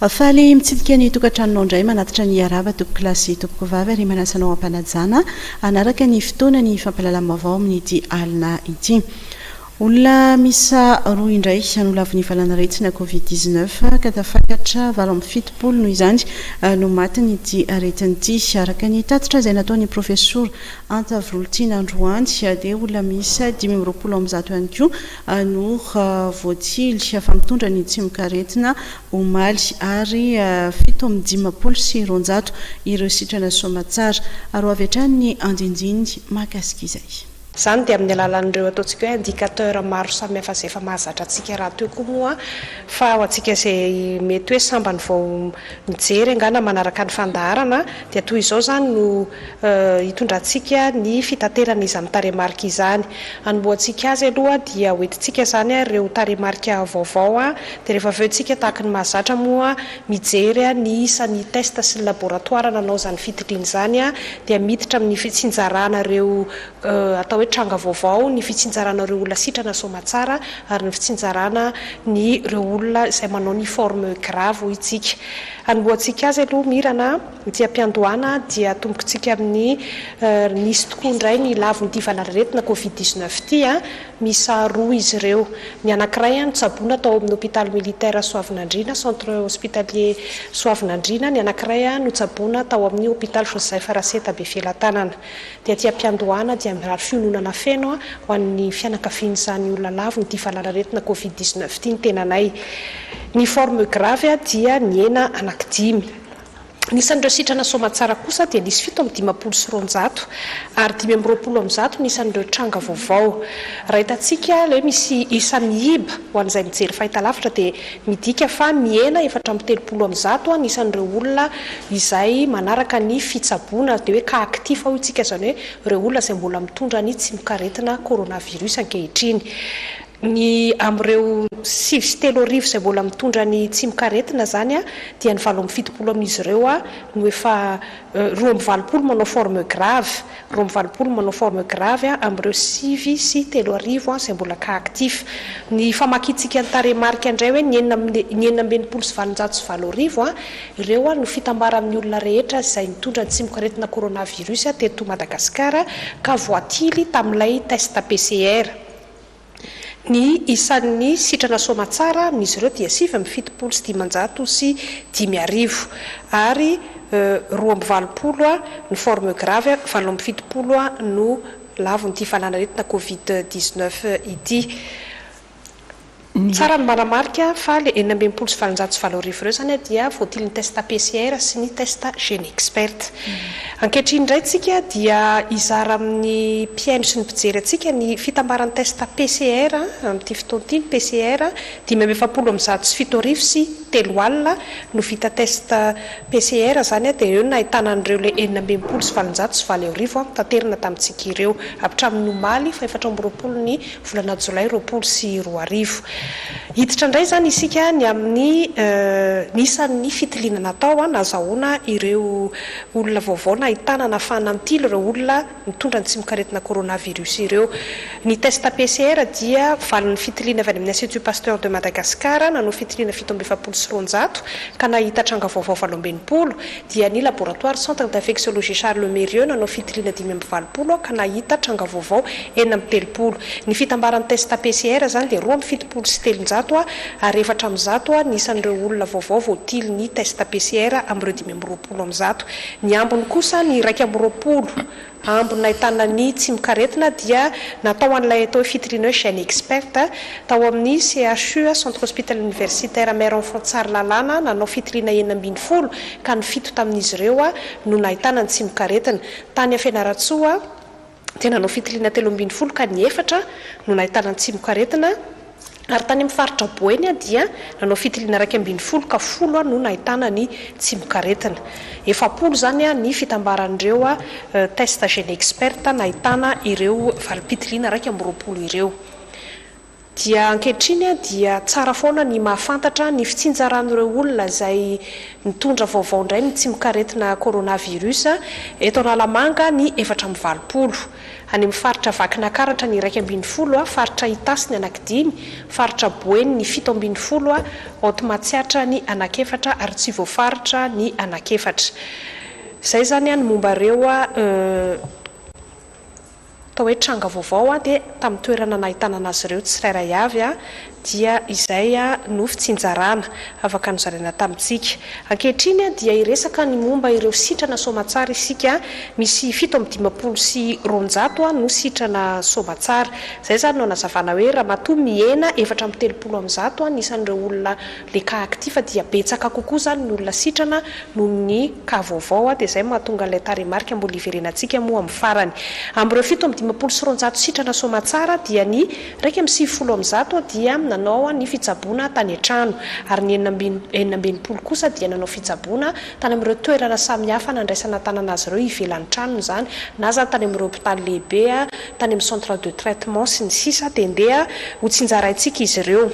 Faly mitsidika ny tokantranonao indray manatitra ny araba tompokilasy tompoko vavy ary manasanao ampanajana hanaraka ny fotoana ny fampalalam-baovao amin'ity alina ity. Olona miisa roa indray no lavin'ny valanaretina Covid dix neuf ka tafakatra valo amby fitopolo noho izany no matin'ity aretina ity. Araka ny tatitra izay nataon'ny profesora Anta Virolitiana androany dia olona miisa dimy amby roapolo amby zato ihany koa no voatily fa mitondra ny tsimokaretina omaly ary fito amby dimampolo sy roanjato ireo sitrana soamatsara. Ary ho avy hatrany ny andinindiny mahakasika izay. Izany dia amin'ny alalan'ireo ataontsika hoe indicateur maro samihafa izay efa mahazatra antsika rahateo koa moa fa ho antsika izay mety hoe sambany vao mijery angaha na manaraka ny fandaharana dia toy izao izany no hitondrantsika ny fitaterana izany tarehimarika izany. Hanombohantsika azy aloha dia hoentintsika izany ireo tarehimarika vaovao dia rehefa avy eo isika tahaka ny mahazatra moa Mijery aho ny isa ny test sy ny laboratoire nanao izany fitidriana izany aho dia miditra amin'ny fitsinjaranareo atao hoe tranga vaovao, ny fitsinjaranareo olona sitrana soamatsara ary ny fitsinjarana ny ireo olona izay manao ny forme grave hoy tsika. Hanombohantsika azy aloha mirana ity ampiandohana dia tombokintsika amin'ny nisy tokoa indray ny lavon'ny ity valanaretina covid dix-neuf ity. Miisa roa izy ireo. Ny anankiray notsaboina tao amin'ny hopitaly militaire Soavinandriana, Centre Hospitalier Soavinandriana, ny anankiray notsaboina tao amin'ny hopitaly Joseph Raseta Befelatanana. Dia aty am-piandohana dia mirary fiononana feno ho an'ny fianakavian'izany olona laviny ity valanaretina covid dix-neuf ity ny tenanay. Ny forme grave dia nihena anankidimy. Anisan'ireo sitrana soamantsara kosa dia nisy fito amby dimampolo sy roanjato ary dimy amby roapolo amby zato ny isan'ireo tranga vaovao. Raha hitantsika ilay hoe misy isa mihiba ho an'izay mijery fahitalavitra dia midika fa mihena efatra amby telopolo amby zato ny isan'ireo olona izay manaraka ny fitsaboana, dia hoe cas actif hoy isika izany hoe ireo olona izay mbola mitondra ny tsimokaretina coronavirus ankehitriny. Ny amin'ireo sivy sy telo arivo izay mbola mitondra ny tsimokaretina izany dia ny valo amby fitopolo amin'izy ireo no efa roa amby valopolo manao forme grave, roa amby valopolo manao forme grave amin'ireo sivy sy telo arivo izay mbola cas actif. Ny famakiantsika ny tarehimarika indray hoe ny enina amby ny enina amby enimpolo sy valonjato sy valo arivo ireo no fitambara amin'ny olona rehetra izay nitondra ny tsimokaretina coronavirus teto Madagasikara ka voatily tamin'ilay test PCR. Ny isan'ny sitrana soamatsara amin'izy ireo dia sivy amby fitopolo sy dimanjato sy dimy arivo, ary roa amby valopolo ny forme grave, valo amby fitopolo no lavon'ity fanan'aretina covid dix-neuf ity. Tsara ny manamarika fa ilay enina amby enimpolo sy valonjato sy valo arivo ireo izany dia voatilin'ny test PCR sy ny test GeneXpert. Ankehitriny indray tsika dia hizara amin'ny mpihaino sy ny mpijery antsika ny fitambaran'ny test PCR amin'ity fotoana ity, ny PCR dimy amby efapolo amin'ny zato sy fito arivo sy telo alina no vita test PCR izany dia eo no nahitana an'ireo le enina amby enimpolo sy valonjato sy valo arivo notaterina tamintsika ireo hatramin'ny omaly faha efatra amby roapolo ny volana jolay roapolo sy roa arivo. Hiditra indray izany isika ny amin'ny ny isan'ny fitiliana natao nazahoana ireo Olona vaovao nahitana nafahana nitily ireo olona nitondra ny tsimokaretina coronavirus ireo. Ny test PCR dia valin'ny fitiliana avy any amin'ny Institut Pasteur de Madagascar nanao fitiliana fito amby efapolo sy roanjato ka nahita tranga vaovao valo amby enimpolo, dia ny laboratoire Centre d'Infectiologie Charles Mérieux nanao fitiliana dimy amby valopolo ka nahita tranga vaovao enina amby telopolo. Ny fitambaran'ny test PCR izany dia roa amby fitopolo sy telonjato ary efatra amby zato ny isan'ireo olona vaovao voatily ny test PCR amin'ireo dimy amby roapolo. folo amby zato. Ny ambiny kosa, ny iraika amby roapolo ambiny nahitana ny tsimokaretina dia natao an'ilay atao hoe fitoriana hoe Gène Expert tao amin'ny CHU, Centre Hospital Universitaire Mère Enfant Tsaralalana nanao fitoriana enina ambin'ny folo ka ny fito tamin'izy ireo no nahitana ny tsimokaretina. Tany Fianarantsoa. dia nanao fitiliana telo ambin'ny folo ka ny efatra no nahitana an-tsimokaretina ary tany amin'ny faritra Boeny dia nanao fitiliana iraika ambin'ny folo ka folo no nahitana ny tsimokaretina. Efapolo izany ny fitambaran'ireo test GeneXpert nahitana ireo valim-pitiliana iraika amby roapolo ireo. Dia ankehitriny dia tsara foana ny mahafantatra ny fitsinjaran'ireo olona izay mitondra vaovao indray ny tsimok'aretina coronavirus eto Analamanga ny efatra amby valopolo, any amin'ny faritra Vakinakaratra ny iraika ambin'ny folo, faritra Itasy ny anakidimy, faritra Boeny ny fito ambin'ny folo, Haute Matsiatra ny anakefatra ary tsy voafaritra ny anakefatra. Izay izany ny momba ireo. Atao hoe tranga vaovao dia tamin'ny toerana nahitana an'azy ireo tsirairay avy dia izay no fitsinjarana afaka nozaraina tamintsika. Ankehitriny dia hiresaka ny momba ireo sitrana soamatsara isika, misy fito amby dimampolo sy roanjato no sitrana soamatsara. Izay izany no hanazavana hoe ramatoa mihena efatra amby telopolo amin'ny zato ny isan'ireo olona le cas actif fa dia betsaka kokoa zany ny olona sitrana noho ny cas vaovao a, de zay mahatonga ilay tarehimarika mbola hiverenantsika moa amin'ny farany. Amin'ireo fito amby dimampolo sy roanjato sitrana soamatsara dia ny iraika amby sivifolo amin'ny zato dia nanao ny fitsaboana tany an-trano ary ny enina amby enina amby enimpolo kosa dia nanao fitsaboana tany amin'ireo toerana samihafa nandraisana an-tanana azy ireo ivelan'ny tranony izany na izany tany amin'ireo hopitaly lehibe a, tany amin'ny centre de traitement sy ny sisa dia ndeha hotsinjaraintsika izy ireo.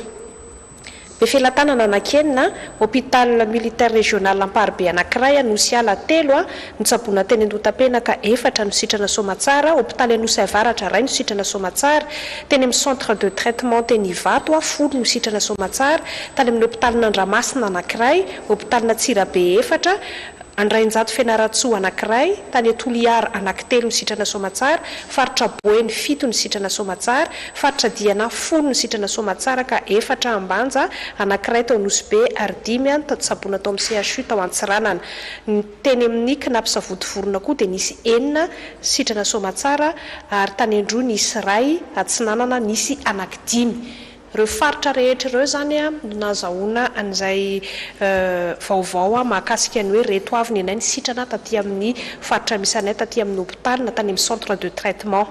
Be felatanana anankienina, Hôpital Militaire Régional Amparibe anankiray Anosy Ala telo no tsaboina teny Andotapenaka, efatra no sitrana Soamatsara, Hôpitaly Anosy Avaratra iray no sitrana Soamatsara, teny amin'ny Centre de Traitement teny Ivato folo no sitrana Soamatsara, tany amin'ny Hôpitalin'Andramasina anankiray, Hôpitalina Antsirabe efatra, Andrainjato Fianarantsoa anankiray, tany Toliara anankitelo ny sitrana soamatsara, faritra Boeny fito ny sitrana soamatsara, faritra Diana folo ny sitrana soamatsara ka efatra Ambanja, anankiray tao Nosy-Be ary dimy an tato Saboina tao amin'ny CHU tao Antsiranana. Ny teny amin'ny Cnaps Savodivorona koa dia nisy enina sitrana soamatsara ary tany Androy nisy iray, Atsinanana nisy anankidimy. Ireo faritra rehetra ireo izany no nahazahoana an'izay vaovao mahakasika ny hoe reto avy ny anay nisitrana taty amin'ny faritra misy anay taty amin'ny hopitaly na tany amin'ny centre de traitement.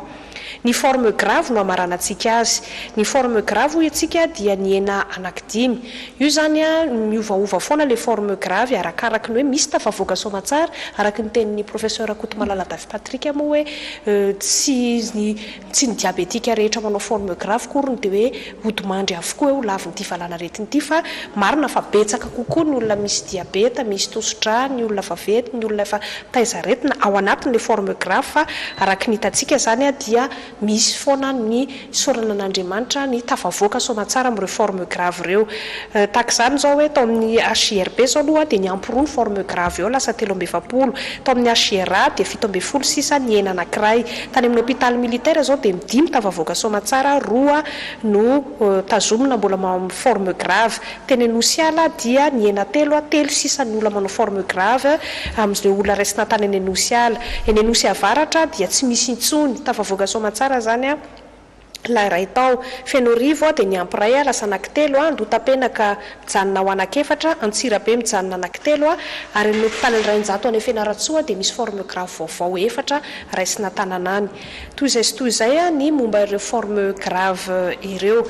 Ny forme grave no hamaranantsika azy. Ny forme grave hoy antsika dia nihena anankidimy. Io izany no miovaova foana ilay forme grave arakaraky ny hoe misy tafavoaka soamatsara, araky ny tenin'ny professeur Rakotomalala Davy Patrick moa hoe tsy Tsy ny diabetika rehetra manao forme grave akoriny dia hoe hodimandry avokoa eo lavin'ity valanaretina ity fa marina fa betsaka kokoa ny olona misy diabeta, misy tosi-drà, ny olona efa venty, ny olona efa taiza aretina ao anatiny le forme grave fa araky ny hitantsika zany a dia misy foana ny isaorana an'Andriamanitra ny tafavoaka soamatsara amin'ireo forme grave ireo tahaka izany zao hoe tao amin'ny HJRB zao aloha dia niampy roa ny forme grave eo lasa telo amby efapolo tao amin'ny HJRA dia fito ambin'ny folo sisa nihena anankiray Tany amin'ny hopitaly militaire izao dia ny dimy tafavoaka soamatsara, roa no tazomina mbola manao forme grave. Teny Anosiala dia nihena telo, telo sisa ny olona manao forme grave amin'ireo olona raisina tany any Anosiala. Eny Anosy Avaratra dia tsy misy intsony, tafavoaka soamatsara izany. Lahy iray tao. Fenoarivo aho dia niampy iray aho lasa anankitelo aho, Andohatapenaka mijanona ho anak'efatra, Antsirabe mijanona anankitelo aho, ary amin'ny hopitalin'ny iray an-jato any Fianarantsoa dia misy forme grave vaovao efatra raisina an-tanana any. Toy izay sy toy izay ny momba ireo forme grave ireo.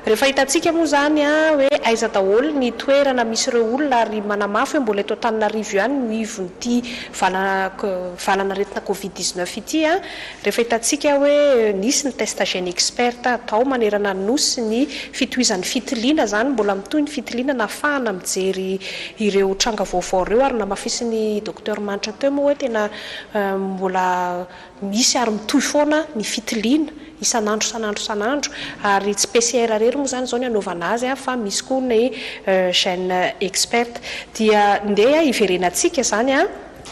Rehefa hitantsika moa izany hoe aiza daholo ny toerana misy ireo olona ary manamafy hoe mbola eto Antananarivo ihany no ivon'ity valana valanaretina covid dix-neuf ity Rehefa hitantsika hoe nisy ny test gène expert atao manerana ny Nosy ny fitohizan'ny fitiliana izany, mbola mitohy ny fitiliana nahafahana mijery ireo tranga vaovao ireo ary namafisin'i Docteur Manitra teo moa hoe tena mbola misy ary mitohy foana ny fitiliana isan'andro isan'andro isan'andro ary tsy PCR irery moa izany izao ny anaovana azy fa misy koa ny gène expert dia ndeha hiverenantsika izany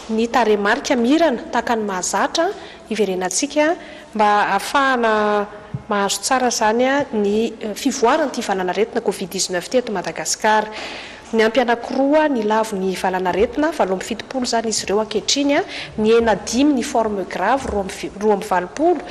ny tarehimarika mirana tahaka ny mahazatra hiverenantsika mba hahafahana mahazo tsara izany ny fivoaran'ity valanaretina covid dix neuf ity eto Madagasikara. Niampy anankiroa nilavo ny valanaretina, valo amby fitopolo izany izy ireo ankehitriny, nihena dimy ny forme grave, roa amby roa amby valopolo,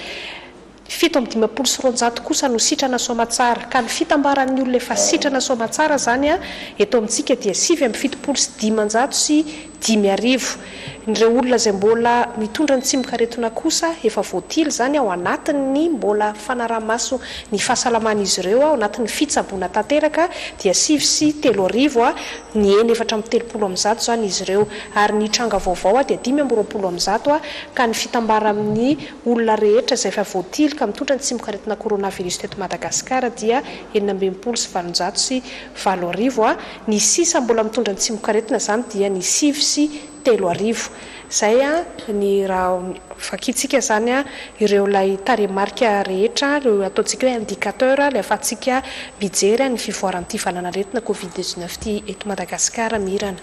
Fito amby dimampolo sy roanjato kosa no sitrana soamatsara, ka ny fitambaran'ny olona efa sitrana soamatsara izany eto amintsika dia sivy amby fitopolo sy dimanjato sy dimy arivo. Ireo olona izay mbola mitondra ny tsimok'aretina kosa efa voatily izany ao anatin'ny mbola fanaraha-maso ny fahasalaman'izy ireo ao anatin'ny fitsaboana tanteraka dia sivy sy telo arivo, ny eny efatra amby telopolo amin'ny zato izany izy ireo, ary ny tranga vaovao dia dimy amby roapolo amin'ny zato, ka ny fitambaran'ny. Olona rehetra izay efa voatily ka mitondra ny tsimokaretina coronavirus teto Madagasikara dia enina amby enimpolo sy valonjato sy valo arivo ha, ny sisa mbola mitondra ny tsimokaretina izany dia ny sivy sy telo arivo. Izay ha ny raha vakintsika izany ha ireo ilay tarehimarika rehetra ha ireo ataontsika hoe indicateur ilay afahantsika mijery ha ny fivoaran'ity valanaretina covid dix neuf ity eto Madagasikara Mirana.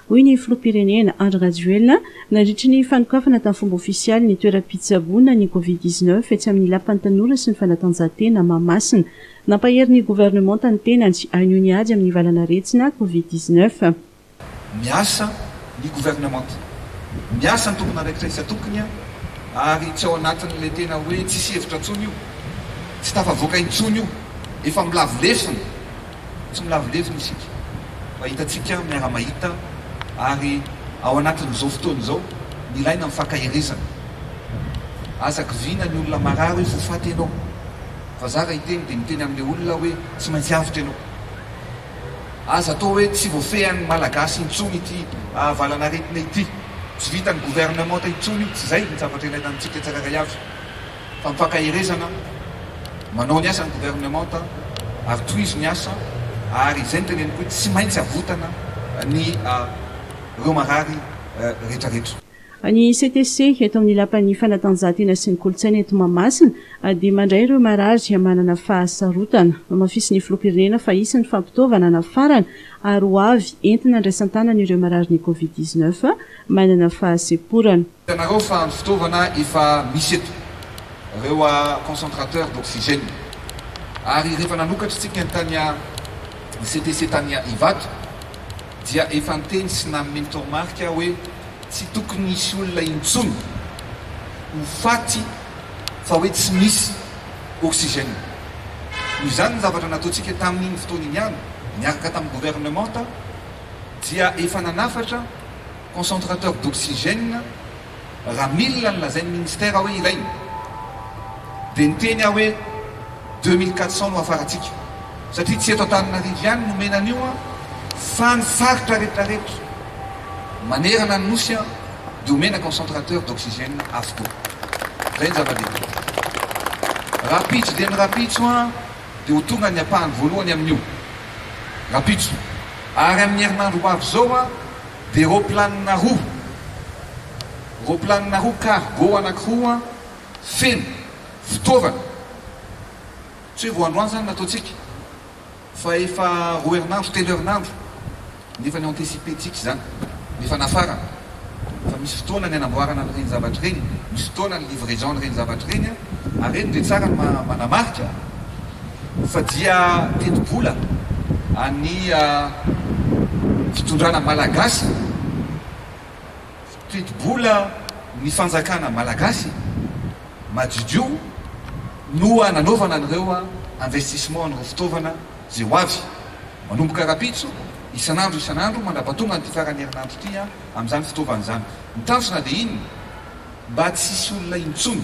hoy ny filoham-pirenena Andry Rajoelina nandritry ny fanokafana tamin'ny fomba ofisialy ny toeram-pitsaboana ny Covid dix-neuf etsy amin'ny Lapan'ny Tanora sy ny Fanatanjahantena Mahamasina. Nampahery ny governemanta ny tenany hanohy ny ady amin'ny valan'aretina Covid dix-neuf. Miasa ny governemanta, miasa ny tompon'andraikitra isan-tokony ary tsy ao anatin'ilay tena hoe tsisy hevitra intsony io, tsy tafavoaka intsony io, efa milavo lesona Tsy milavo levona isika fa hitantsika miara-mahita ary ao anatin'izao fotoana izao nilaina ny fankaherezana. Aza kiviana ny olona marary hoe voafaty ianao. Fa za raha hiteny dia miteny amin'ilay olona aho hoe tsy maintsy avotra ianao. Aza atao hoe tsy voafehin'ny Malagasy intsony ity valanaretina ity, tsy vitan'ny gouvernementa intsony, tsy izay ny zavatra ilaina amintsika tsirairay avy. Fampahaherezana, manao ny asan'ny governemanta ary tohizo ny asa ary izay no teneniko hoe tsy maintsy avotana ny ireo marary rehetrarehetra. Ny CTC eto amin'ny Lapan'ny fanatanjahantena sy ny kolontsaina eto Mahamasina dia mandray ireo marary manana fahasarotana. Nohamafisin'ny Filoham-pirenena fa hisy ny fampitaovana nafarana ary ho avy entina andraisan-tanana ireo mararin'ny Covid dix-neuf manana fahasemporana. Hitanareo fa ny fitaovana efa misy eto, ireo concentrateurs d'oxygène, ary rehefa nanokatra isika ny tany ny CTC tany Ivato dia efa niteny sy nanome ny toromarika aho hoe tsy tokony hisy olona intsony ho faty fa hoe tsy misy oxygène. Noho izany ny zavatra nataontsika tamin'iny fotoana iny ihany miaraka tamin'ny gouvernementa dia efa nanafatra Concentrateur d'oxygène, raha milina ny lazain'ny ministera hoe ilaina, dia niteny aho hoe deux mille quatre cents no hafarantsika, satria tsy eto Antananarivo ihany no omena an'io fa ny faritra rehetrarehetra manerana ny Nosy dia omena concentrateur d'oxygène avokoa. Izay ny zava-dehibe. Rapitso dia ny rapitso dia ho tonga ny ampahany voalohany amin'io rapitso, ary amin'ny herinandro ho avy izao, Dia roplanina roa, roplanina roa cargo anankiroa feno fitaovana, tsy hoe vao androany izany no nataontsika fa efa roa herinandro, telo herinandro no efa ni-anticiper-ntsika izany, no efa nafarana. Fa misy fotoana ny hanamboarana an'ireny zavatra ireny, misy fotoana ny livraison an'ireny zavatra ireny, ary ireny dia tsara ny manamarika. fa dia tetibola an'ny fitondrana malagasy, tetibola ny fanjakana malagasy madiodio no nanaovana an'ireo investissement an'ireo fitaovana izay ho avy manomboka rapitso isan'andro isan'andro mandrapatonga an'ity faran'ny herinandro ity amin'izany fitaovana izany. Ny tanjona dia inona? Mba tsy hisy olona intsony.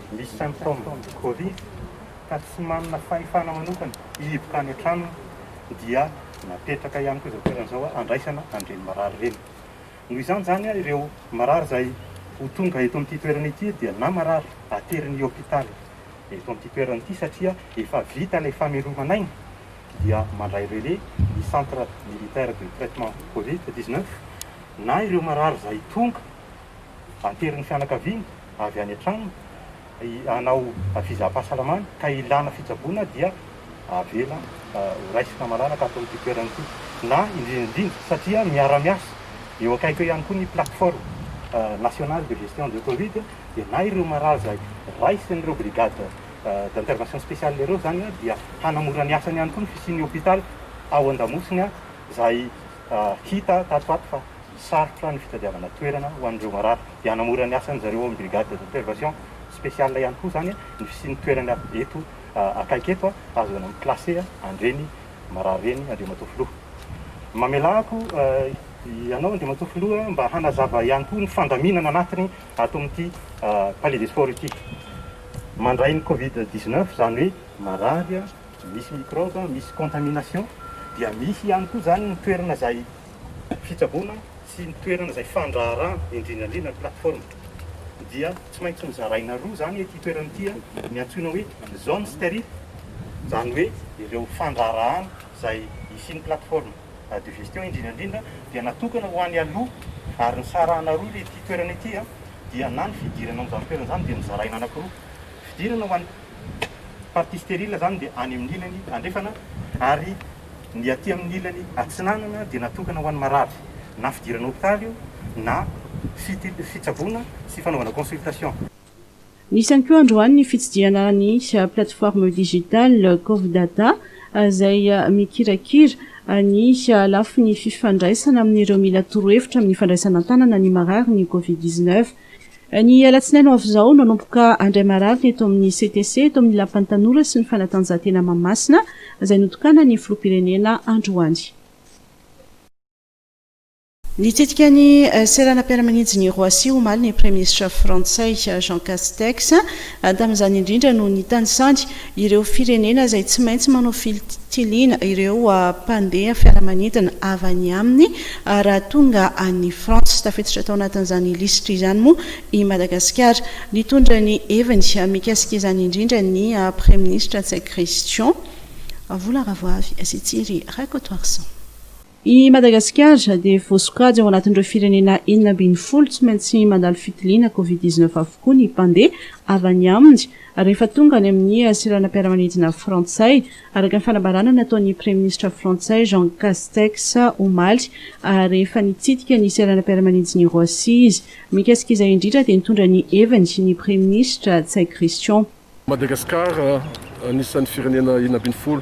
misy symptomes covid ka tsy manana fahefana manokana hihiboka any an-tranony dia napetraka ihany koa izao toerana izao handraisana an'ireny marary ireny. Noho izany izany ireo marary izay ho tonga eto amin'ity toerana ity dia na marary aterin'ny hopitaly eto amin'ity toerana ity satria efa vita ilay famelomana aina dia mandray relais ny centre militaire de traitement covid 19 na ireo marary izay tonga Aterin'ny fianakaviana avy any an-tranony hanao fizaham-pahasalamana ka ilana fitsaboana dia avela horaisina malalaka ato amin'ity toerana ity na indrindra indrindra satria miara-miasa eo akaiky eo ihany koa ny plateforme nationale de gestion de covid dia na ireo maraza raisin'ireo brigade d'intervention spéciale ireo izany dia hanamora ny asany ihany koa ny fisian'ny hôpital ao Andamosiny izay hita tato ho ato fa sarotra ny fitadiavana toerana ho an'ireo marary dia hanamora ny asan'izy ireo ao amin'ny brigade d'observation spéciale ihany koa izany ny fisian'ny toerana eto akaiky eto ahazoana mi-classer an'ireny marary ireny Andriamatoa Filoha. Mamelako ianao Andriamatoa Filoha mba hanazava ihany koa ny fandaminana anatiny ato amin'ity Palais des Sports ity. Mandray ny Covid 19 izany hoe marary, misy microbe, misy contamination dia misy ihany koa izany ny toerana izay fitsaboana sy ny toerana izay fandraharahana indrindra indrindra ny plateforme dia tsy maintsy nozaraina roa izany ity toerana ity a, ny antsoina hoe zone sterile izany hoe ireo fandraharahana izay hisian'ny plateforme de gestion indrindra indrindra dia natokana ho any aloha ary nisarahana roa ity toerana ity a, dia na ny fidirana ao amin'izany toerana izany dia nozaraina anakiroa, fidirana ho an'ny partie sterile izany dia any amin'ny ilany andrefana ary Ny aty amin'ny ilany atsinanana dia natokana ho an'ny marary, na fidirana hopitaly io na fitsaboana sy fanaovana consultation. Nisy ihany koa androany ny fitsidihana ny plateforme digitale Cov'Data izay mikirakira ny lafiny fifandraisana amin'ireo mila torohevitra amin'ny fandraisana an-tanana ny mararin'ny Covid dix-neuf. Ny alatsinainy ho avy izao no hanomboka handray mararina eto amin'ny CTC, eto amin'ny Lapan'ny Tanora sy ny Fanatanjahantena Mahamasina, izay notokanan'ny Filoham-pirenena androany. Nitsidika ny seranam-piaramanidin'i Roissy omaly ny Praiminisitra frantsay, Jean Castex. Tamin'izany indrindra no nitanisany Ireo firenena izay tsy maintsy manao fitiliana ireo mpandeha fiaramanidina avy any aminy raha tonga any France. Tafiditra tao anatin'izany lisitra izany moa i Madagasikara. Nitondra ny heviny mikasika izany indrindra ny praiminisitra Ntsay Christian, Vola Ravoavy sy Thierry Rakotoarison. I Madagasikara dia voasokajy ao anatin'ireo firenena enina ambin'ny folo tsy maintsy mandalo fitiliana Covid dix neuf avokoa ny mpandeha avy any aminy rehefa tonga any amin'ny seranam-piaramanidina frantsay, araka ny fanambarana nataon'ny praiminisitra frantsay Jean Castex omaly rehefa nitsidika ny seranam-piaramanidin'i Roissy izy. Mikasika izay indrindra dia nitondra ny heviny ny praiminisitra Ntsay Christian. Madagasikara anisan'ny firenena enina ambin'ny folo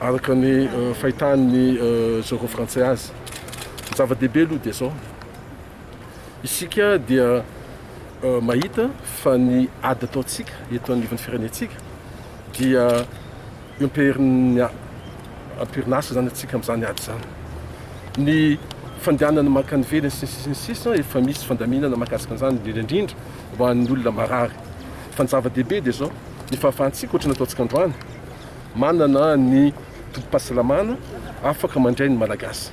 araka ny fahitan'ny Zorao Frantsay azy. Ny zava-dehibe aloha dia izao, isika dia mahita fa ny ady ataontsika eto anivon'ny firenentsika dia empirin'ny ampirinasa izany antsika amin'izany ady izany. Ny fandehanana mankany ivelany sy ny sisa ny sisa efa misy fandaminana mahakasika an'izany indrindra indrindra ho an'ny olona marary. Fa ny zava-dehibe dia izao, ny fahafahantsika, ohatry ny ataontsika androany, manana ny tobim-pahasalamana afaka mandray ny Malagasy.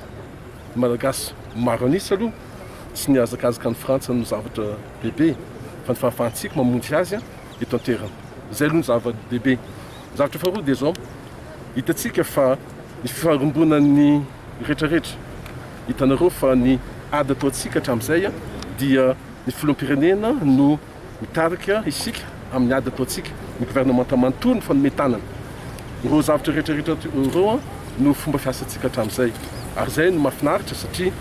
Ny Malagasy maro an'isa aloha tsy nihazakazaka an'i Frantsa no zavatra lehibe, fa ny fahafahantsika mamonjy azy eto an-toerana. Izay aloha ny zava-dehibe. Ny zavatra faharoa dia izao, hitantsika fa ny fiharimbonan'ny. retraretra. Hitanareo fa ny ady ataontsika hatramin'izay dia ny filoham-pirenena no mitarika isika amin'ny ady ataontsika, ny governemanta manontolo no mifanome tanana. Ireo zavatra retraretra ireo no fomba fiasantsika hatramin'izay ary izay no mahafinaritra satria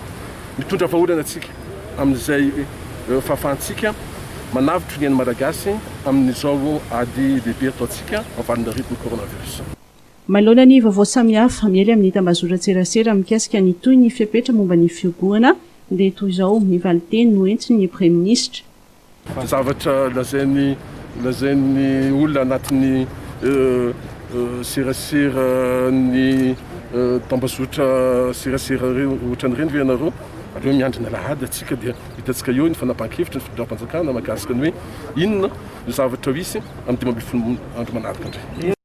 mitondra vahaolana antsika amin'izay fahafahantsika manavotro ny ain'ny Malagasy amin'izao ady lehibe ataontsika amin'ny valan'arivony coronavirus. Manoloana ny vaovao samihafa miely amin'ny tambazotran-tserasera mikasika ny toy ny fepetra momba ny fiobohana dia toy izao ny valin-teny noentin'ny praiminisitra. Zavatra lazain'ny lazain'ny olona anatin'ny serasera ny tambazotra serasera ireo ohatran'ireny ve ianareo? Aleo miandry ny alahady antsika dia hitantsika eo ny fanapahan-kevitry ny fitondram-panjakana mahakasika ny hoe inona no zavatra ho hisy amin'ny dimy ambin'ny folo andro manaraka indray.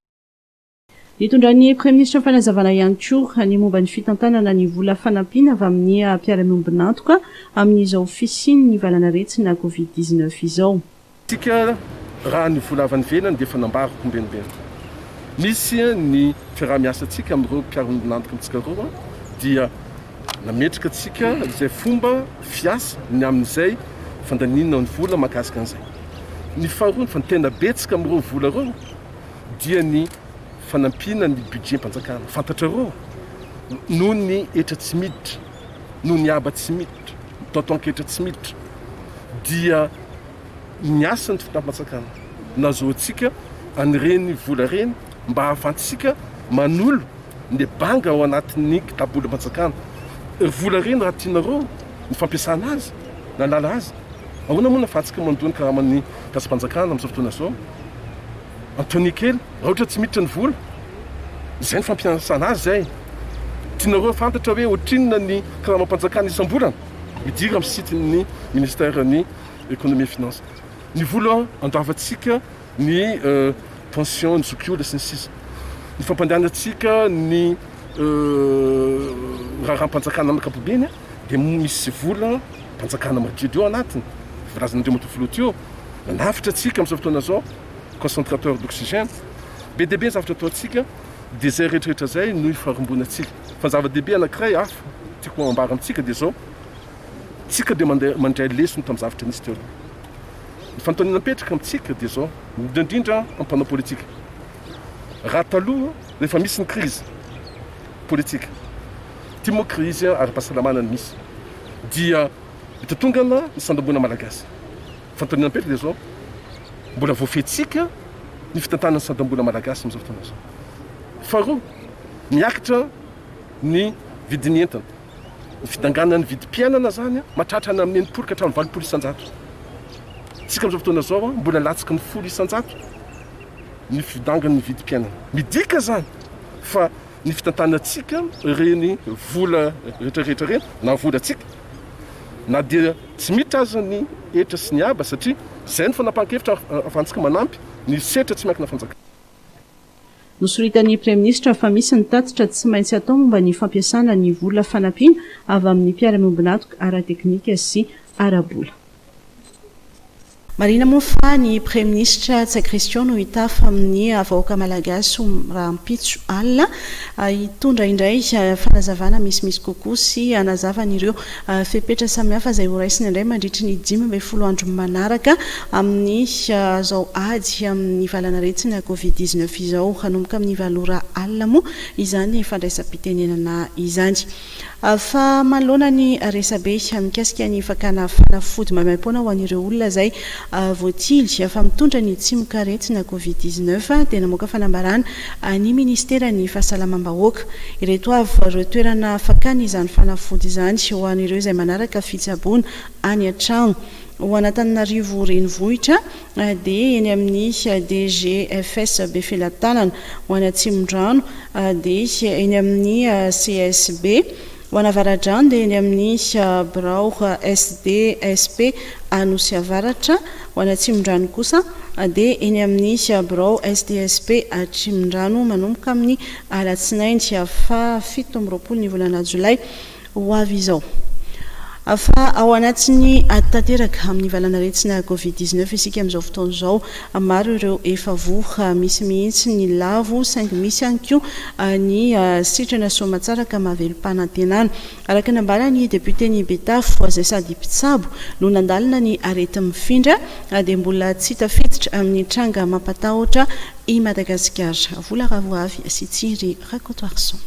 Nitondran'ny Praiminisitra fanazavana ihany koa ny momba ny fitantanana ny vola fanampiana avy amin'ny mpiara-miombon'antoka amin'izao fisian'ny valan'aretina Covid dix neuf izao. Isika raha ny vola avy any ivelany dia efa nambara ho mbenimbenina. Misy ny fiaraha-miasantsika amin'ireo mpiara-miombon'antoka amintsika roa dia nametraka antsika izay fomba fiasa ny amin'izay fandaniana ny vola mahakasika an'izay. Ny faharoa fa tena betsaka amin'ireo vola ireo. dia ny fanampiana ny budget-mpanjakana. Fantatrareo, noho ny hetra tsy miditra, noho ny haba tsy miditra, ny taotaon-ketra tsy miditra, dia ny asan'ny fitondram-panjakana no azahoantsika an'ireny vola ireny mba ahafahantsika manolo ny banga ao anatin'ny kitabolam-panjakana. Ry vola ireny, raha tianareo ny fampiasana azy, nanala azy, Ahoana moa ny hafatsika mandoa ny karaman'ny Dasipanjakana amin'izao fotoana izao? Antony kely, rahotra tsy miditra ny vola? Izay ny fampiasana azy izay. Tianareo hafantatra hoe ohatrinona ny karamam-panjakana isam-bolana? Midira amin'ny site-n'ny Ministeran'ny Ekonomia Finances. Ny vola andoavantsika, ny pension, ny zokiolona sy ny sisa. Ny fampandehanantsika ny raharaham-panjakana amin'ny ankapobeny. Dia misy vola mpanjakana madiodio anatiny, voalazan'ireo matoa filoha Teo, manafotra antsika amin'izao fotoana izao, concentrateur d'oxygène. Be dia be ny zavatra ataontsika, dia izay rehetrarehetra izay no ifarimbonantsika. Fa ny zava-dehibe anankiray hafa tiako hambara amintsika dia izao, tsika dia mandeha mandray lesona tamin'ny zavatra nisy teo aloha. Ny fanontaniana mipetraka amintsika dia izao, indrindra indrindra amin'ny mpanao politika, raha taloha rehefa misy ny krizy politika, Ity moa krizy ara-pahasalamana no misy dia mitotongana ny sandam-boina malagasy. Fanontaniana mipetraka dia izao, mbola voafehintsika ny fitantanana ny sandam-boina malagasy amin'izao fotoana izao? Faharoa, miakatra ny vidin'ny entana. Ny fidanganan'ny vidim-piainana izany mahatratra any amin'ny enimpolo ka hatramin'ny valopolo isan-jato. Isika amin'izao fotoana izao mbola latsaky ny folo isan-jato ny fidangan'ny vidim-piainana. Midika izany fa ny fitantanantsika ireny vola retraretra ireny na volantsika na dia tsy miditra aza ny hetra sy ny haba satria izay ny fanapahan-kevitra ahafahantsika manampy ny setra tsy miankina fanjakana. Nosoritan'ny Praiminisitra fa misy ny tatitra tsy maintsy atao momba ny fampiasana ny vola fanampiana avy amin'ny mpiara-miombon'antoka ara-teknika sy ara-bola. Marihina moa fa ny Praiminisitra Ntsay Christian no hitafa amin'ny vahoaka Malagasy ho rahampitso alina, hitondra indray fanazavana misimisy kokoa sy hanazava an'ireo fepetra samihafa izay ho raisina indray mandritry ny dimy ambin'ny folo andro manaraka amin'izao ady amin'ny valan'aretina Covid dix-neuf izao. Hanomboka amin'ny valo ora alina moa izany fandraisam-pitenenana izany. Fa manoloana ny resabe mikasika ny fakana fanafody maimaim-poana ho an'ireo olona izay voatily fa mitondra ny tsimokaretina Covid dix neuf dia namoaka fanambarana ny minisiteran'ny Fahasalamam-bahoaka. Ireto avy ireo toerana fakana izany fanafody izany ho an'ireo izay manaraka fitsaboana any an-trano. Ao Anatananarivo Renivohitra, AD eny amin'ny DGFS Befelatanana ho any Atsimondrano, AD eny amin'ny CSB ho any Avaradrano dia eny amin'ny Birao SDSP Anosy Avaratra ho any Atsimondrano kosa dia eny amin'ny Birao SDSP Atrimondrano manomboka amin'ny Alatsinainy faha fito amby roapolo ny volana Jolay ho avy izao. Fa ao anatin'ny ady tanteraka amin'ny valan'aretina Covid dix neuf isika amin'izao fotoana izao. Maro ireo efa voa, misy mihitsy ny lavo saingy misy ihany koa ny sitrana soamantsara ka mahavelom-panantenana. Araka ny nambaran'ny depioten'i Betafo izay sady mpitsabo no nandalina ny areti-mifindra dia mbola tsy tafiditra amin'ny tranga mampatahotra i Madagasikara. Vola ravo avy sy Tsiry Rakotoarison.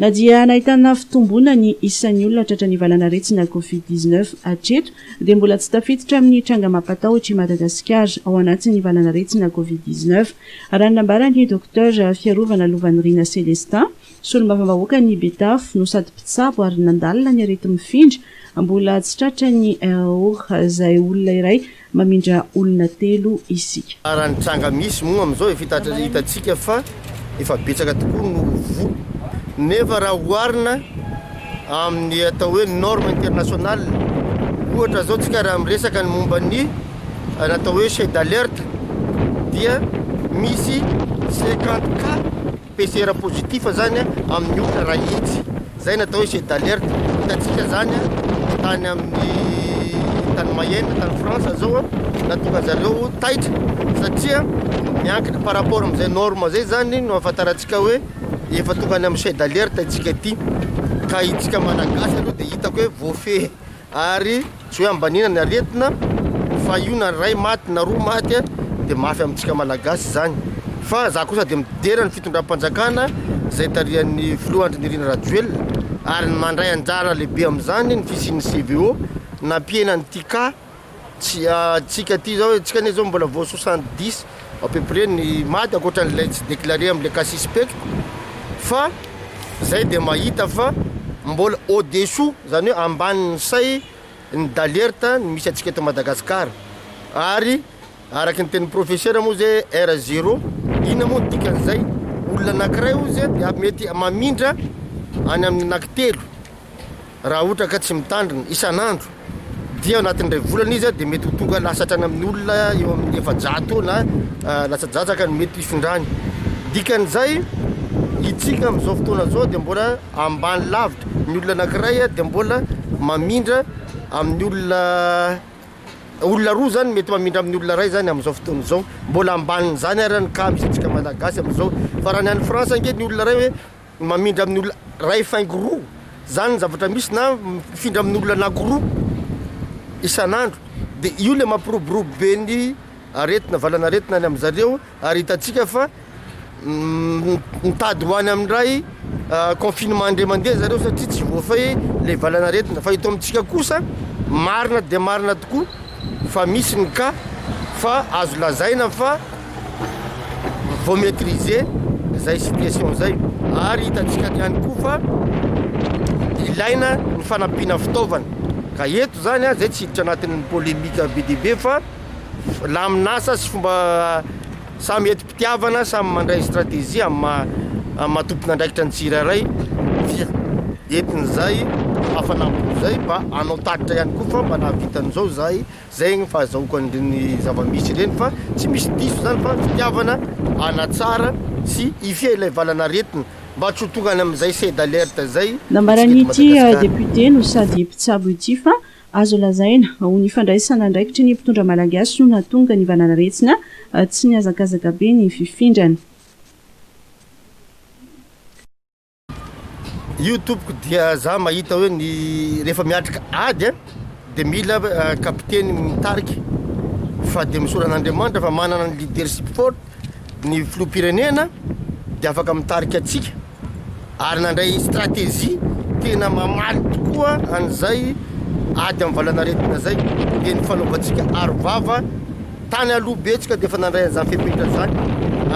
Na dia nahitana fitomboana ny isan'ny olona tratran'ny valan'aretina Covid dix neuf hatreto dia mbola tsy tafiditra amin'ny tranga mampatahotra i Madagasikara ao anatin'ny valan'aretina Covid dix neuf, raha ny nambaran'ny Docteur Fiarovana Lovanirina Celestin, solombavambahoakan'i Betafo no sady mpitsabo ary nandalina ny areti-mifindra mbola tsy tratran'ny RAOR izay olona iray Mamindra olona telo isika. Raha ny tranga misy moa amin'izao efa hitantsika fa efa betsaka tokoa no voa nefa raha oharina amin'ny atao hoe norme international ohatra zao tsika raha miresaka ny momba ny natao hoe chez d'alerte dia misy cinquante cas PCR positif zany amin'ny olona raha hitsy zay no atao hoe jet d'alerte hitantsika zany tany amin'ny tany Mayenne tany France zao nahatonga zareo taitra satria miankina par rapport amin'izay norme zay zany no ahafantarantsika hoe efa tonga any amin'ny jet d'alerte isika ity ka isika malagasy aloha dia hitako hoe voafehy ary Tsy hoe ambaniana ny aretina fa io na ray maty na roa maty dia mafy amintsika malagasy izany. Fa za kosa dia midera ny fitondram-panjakana izay tarihan'ny filoha Andry Nirina Rajoelina ary ny mandray anjara lehibe amin'izany ny fisian'ny CVO nampihena ny Tika tsika ity izao. Tsika anie izao mbola voasosa an-disa. à peu près ny mad ankoatran'ilay tsy declare amle cas suspect fa zay dia mahita fa mbola au dessous zany hoe ambanin'ny say ny d'alerte ny misy antsika eto Madagascar ary araky ny tenin'ny professeur moa ze R zero inona moa ny dikan'izay olona anakiray ozy dia mety mamindra any amin'ny anaky telo Raha ohatra ka tsy mitandrina isan'andro dia ao anatin'ny iray volana izy dia mety ho tonga lasa hatrany amin'ny olona eo amin'ny efajato na latsadratsaka no mety hifindrany. Dikan'izay, itsika amin'izao fotoana izao dia mbola ambany lavitra, ny olona anankiray dia mbola mamindra amin'ny olona, olona roa izany mety mamindra amin'ny olona iray izany amin'izao fotoana izao, mbola ambanin'izany ary ny cas misy antsika Malagasy amin'izao, fa raha ny any France ange ny olona iray hoe. Mamindra amin'ny olona iray faingo roa, izany ny zavatra misy, na mifindra amin'ny olona anankiroa isan'andro, dia io ilay mampiroborobo be ny aretina, valan'aretina any amin-dry zareo, ary hitantsika fa mitady ho any amin'ny iray confinement indray mandeha ry zareo satria tsy voafehy ilay valan'aretina, fa eto amintsika kosa marina dia marina tokoa fa misy ny cas fa azo lazaina fa vao maîtriser izay situation izay ary hitantsika any ihany koa fa ilaina ny fanampiana fitaovana ka eto zany a zay tsy hiditra anatin'ny polémique be dia be fa lamin'asa sy fomba samy enti-pitiavana samy mandray stratégie amin'ny maha tompon'andraikitra ny tsirairay dia entin'izay hafanam-bolo izay mba hanao tatitra ihany koa fa mba nahavita an'izao izahay Zay ny fahazahoako an'ireny zava-misy ireny fa tsy misy diso zany fa fitiavana hanatsara sy hifehy ilay valan'aretina mba tsy ho tonga any amin'izay seuil d'alerte zay Nambaran' ity depiote no sady mpitsabo ity fa azo lazaina ho ny fandraisana andraikitry ny mpitondra malagasy no nahatonga ny valan'aretina tsy nihazakazaka be ny fifindrany. Io tompoko dia za mahita hoe ny rehefa miatrika ady a dia mila kapiteny mitarika fa dia misora an'Andriamanitra fa manana ny leadership forte ny filoham-pirenena dia afaka mitarika antsika ary nandray stratégie tena mamaly tokoa an'izay ady amin'ny valanaretina zay dia ny fanaovantsika arovava tany aloha betsika dia efa nandray an'izany fepetra zany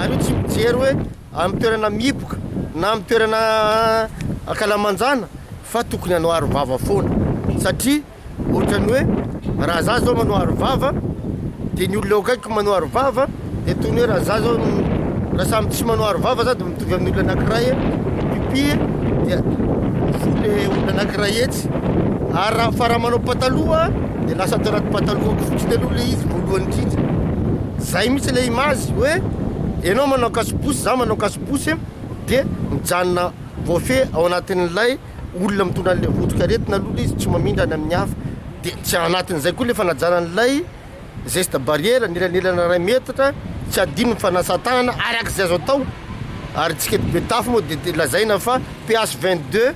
ary io tsy mijery hoe amin'ny toerana mihiboka na amin'ny toerana ankalamanjana fa tokony hanao arovava foana satria ohatran'ny hoe raha za zao manao arovava de ny olona eo akaikiko manao arovava de toy ny hoe raha za zao raha samy tsy manao arovava za de mitovy amin'ny olona anankiray mipipy dia voa le olona anankiray etsy ary raha fa raha manao pataloha de lasa tao anaty pataloha koa satria taloha le izy voalohany indrindra Zay mihitsy le image hoe enao manao kasobosy za manao kasobosy de mijanona voafehy ao anatin'ilay olona mitondra an'ilay votroka aretina aloha le izy tsy mamindra any amin'ny hafa de tsy anatin'izay koa le fanajana an'ilay geste barrière ny elanelana ray metatra tsy hadino ny fanasan-tanana arak'izay azo atao ary tsika eto Betafo moa de lazaina fa PH 22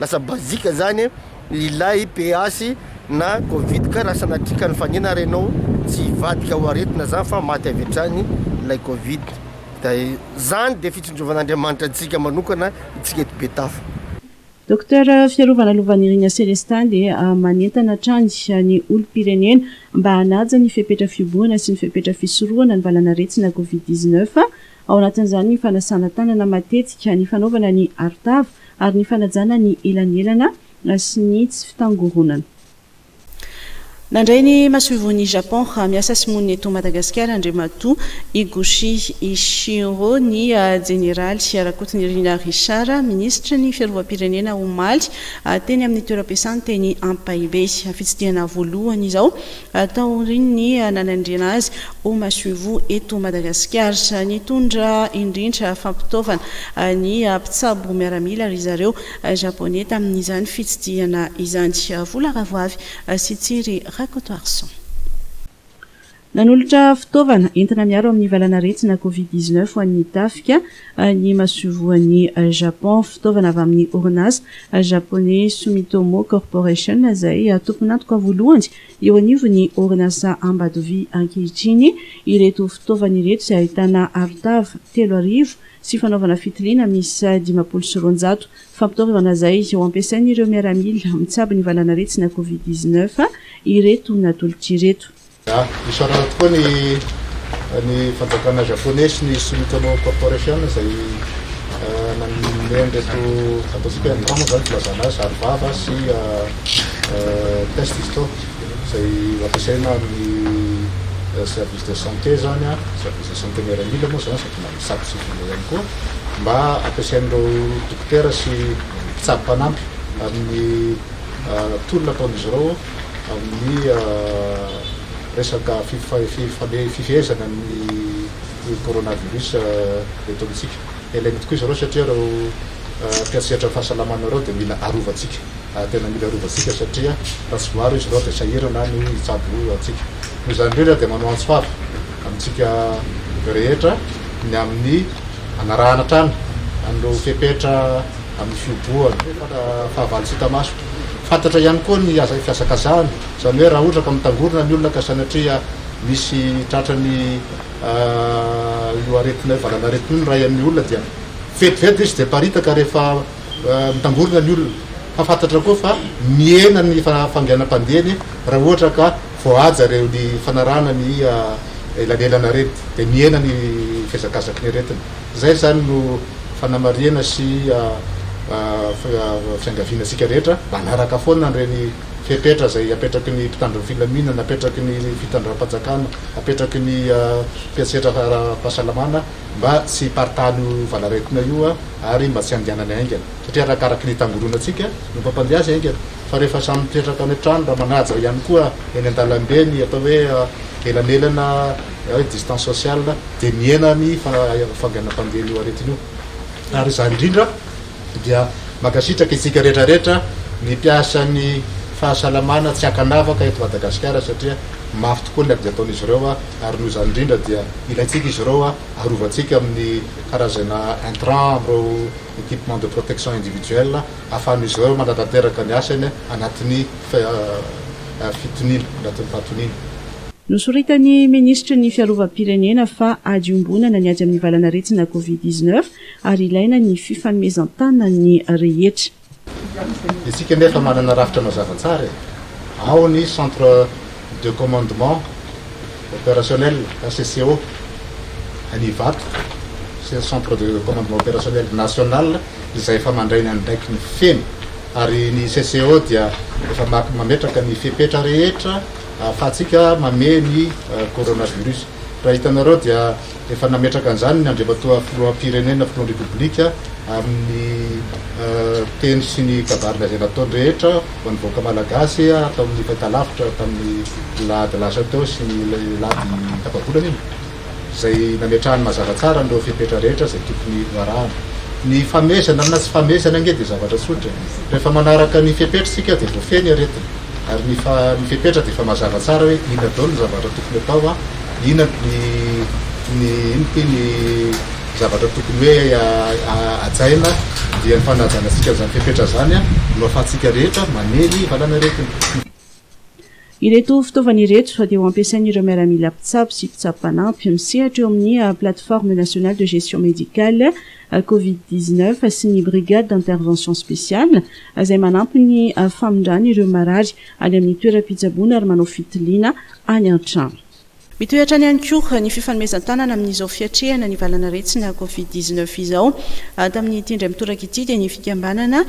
Lasa bazika zany ilay PH na covid ka raha sanatria ka nifanena ary ianao tsy hivadika ho aretina zany fa maty avy hatrany ilay covid da zany dia fitsinjovan'Andriamanitra antsika manokana itsika eto Betafo. Docteur fiarovana lovan'irina selestaly manentana hatrany ny olom-pirenena mba hanaja ny fepetra fihobohana sy ny fepetra fisorohana ny valanaretina covid dix-neuf ao anatin'izany ny fanasana tanana matetika, ny fanaovana ny arotava ary ny fanajana ny elanelana sy ny tsy fitangoronana. Nandray ny masoivohon'i Japon miasa sy monina eto Madagasikara, Andriamatoa Higuchi Ichiro, ny Jeneraly Rakotonirina Richard, Minisitry ny Fiarovam-pirenena, omaly, teny amin'ny toeram-piasany teny Ampahibe. Fitsidihana voalohany izao. taorian'ny nanendrena azy ho masoivoho eto Madagasikara. Nitondra indrindra fampitaovana ny mpitsabo miaramila ry zareo Japoney tamin'izany fitsidihana izany. Vola Ravoavy sy Tsiry Rakotoarison. Nanolotra fitaovana entina miaro amin'ny valanaretina Covid dix-neuf ho an'ny tafika. any masoivoan'i Japon. Fitaovana avy amin'ny orinasa Japoney Sumitomo Corporation izay tompon'antoka voalohany eo anivon'ny orinasa Ambatovy ankehitriny ireto fitaovana ireto izay ahitana arotava telo arivo sy fanaovana fitiliana miisa dimampolo sy roanjato fampitaovana izay ho ampiasain'ireo miaramila mitsabo ny valan'aretina covid dix-neuf ireto natolotra ireto. Isaorana tokoa ny ny fanjakana Japoney sy ny Sumitomo Corporation izay nanome an'ireto ataontsika hoe Andromo izany filazana azy, Arivava sy Test izao izay ampiasaina amin'ny service de santé izany, service de santé miaramila moa izany sady misakatra sy mivoaka ihany koa mba ampiasain'ireo dokotera sy mpitsabo mpanampy amin'ny tolona ataon'izy ireo. amin'ny resaka fifehezana ny coronavirus eto amintsika. Ilaina tokoa izy ireo satria ireo mpiantsehatra ny fahasalamana ireo dia mila arovantsika, tena mila arovantsika satria raha tsy voaaro izy ireo dia sahirana ny hitsabo antsika. Noho izany indrindra dia manao antso fava amintsika rehetra ny amin'ny hanarahana hatrany an'ireo fepetra amin'ny fihobohana fahavalontsika maso. Fantatra ihany koa ny fihazakazahana, izany hoe raha ohatra ka mitangorona ny olona ka sanatria misy tratran'ny io aretina io, valanaretina io ny ray amin'ny olona dia vetivety ilay izy dia miparitaka rehefa mitangorona ny olona. Fa fantatra koa fa mihena ny fahanginam-pandehany raha ohatra ka voahaja ireo ny fanarahana ny elanelan'aretina, dia mihena ny fihazakazaky ny aretina. Izay izany no fanamarihana sy fiangaviana antsika rehetra mba hanaraka foana ireny fepetra izay apetraky ny mpitandro ny filaminana, apetraky ny fitondram-panjakana, apetraky ny mpiantsetra ara-pahasalamana mba tsy hiparitahan'io valanaretina io ary mba tsy handehanany haingana. Satria arakaraky ny tangoronantsika no mampandeha azy haingana. Fa rehefa samy mipetraka any an-trano raha manaja ihany koa eny an-dalambe ny atao hoe elanelana, distance sociale, dia mihena ny fanganam-pandehan'io aretina io. Ary izany indrindra dia mankasitraka isika rehetra rehetra ny mpiasan'ny fahasalamana tsy ankanavaka eto Madagasikara satria mafy tokoa ny ady ataon'izy ireo ary noho izany indrindra dia ilaintsika izy ireo arovantsika amin'ny karazana intrants amin'ireo equipements de protection individuelle ahafahan'izy ireo manatanteraka ny asany anatin'ny fitoniana, anatin'ny fahatoniana. Nosoritan'ny minisitry ny Fiarovam-pirenena fa ady iombonana ny ady amin'ny valan'aretina Covid dix-neuf ary ilaina ny fifanomezan-tanan'ny rehetra. Isika anie efa manana rafitra mazava tsara e! Ao ny Centre de Commandement Opérationnel, CCO, any Ivato sy ny Centre de Commandement Opérationnel National izay efa mandray ny andraikiny feno ary ny CCO dia efa mametraka ny fepetra rehetra ahafahantsika mamehy ny coronavirus. Raha hitanareo dia efa nametraka an'izany ny Andriamatoa Filoham-pirenena, Filohan'ny Repoblika amin'ny teny sy ny kabarina izay nataony rehetra ho an'ny vahoaka Malagasy tao amin'ny fahitalavitra tamin'ny alahady lasa teo sy ny alahady tapa-bolana iny. izay nametrahany mazava tsara an'ireo fepetra rehetra izay tokony ho arahana. Ny famehezana na tsy famehezana ange dia zavatra tsotra e! Rehefa manaraka ny fepetra isika dia voafehy ny aretina, ary ny ny fepetra dia efa mazava tsara hoe inona daholo ny zavatra tokony atao an, inona ny ny inona ity ny zavatra tokony hoe hajaina dia ny fanajana antsika an'izany fepetra izany an no ahafahantsika rehetra mamely valan'aretina. Ireto fitaovana ireto dia ho ampiasain'ireo miaramila mpitsabo sy mpitsabo mpanampy misehatra eo amin'ny Plateforme Nationale de Gestion Médicale Covid dix neuf sy ny Brigade d'Intervention Spéciale izay manampy ny famindrana ireo marary any amin'ny toeram-pitsaboana ary manao fitiliana any an-trano. Mitohy hatrany ihany koa ny fifanomezan-tanana amin'izao fiatrehana ny valan'aretina Covid dix neuf izao. Tamin'ity indray mitoraka ity dia ny fikambanana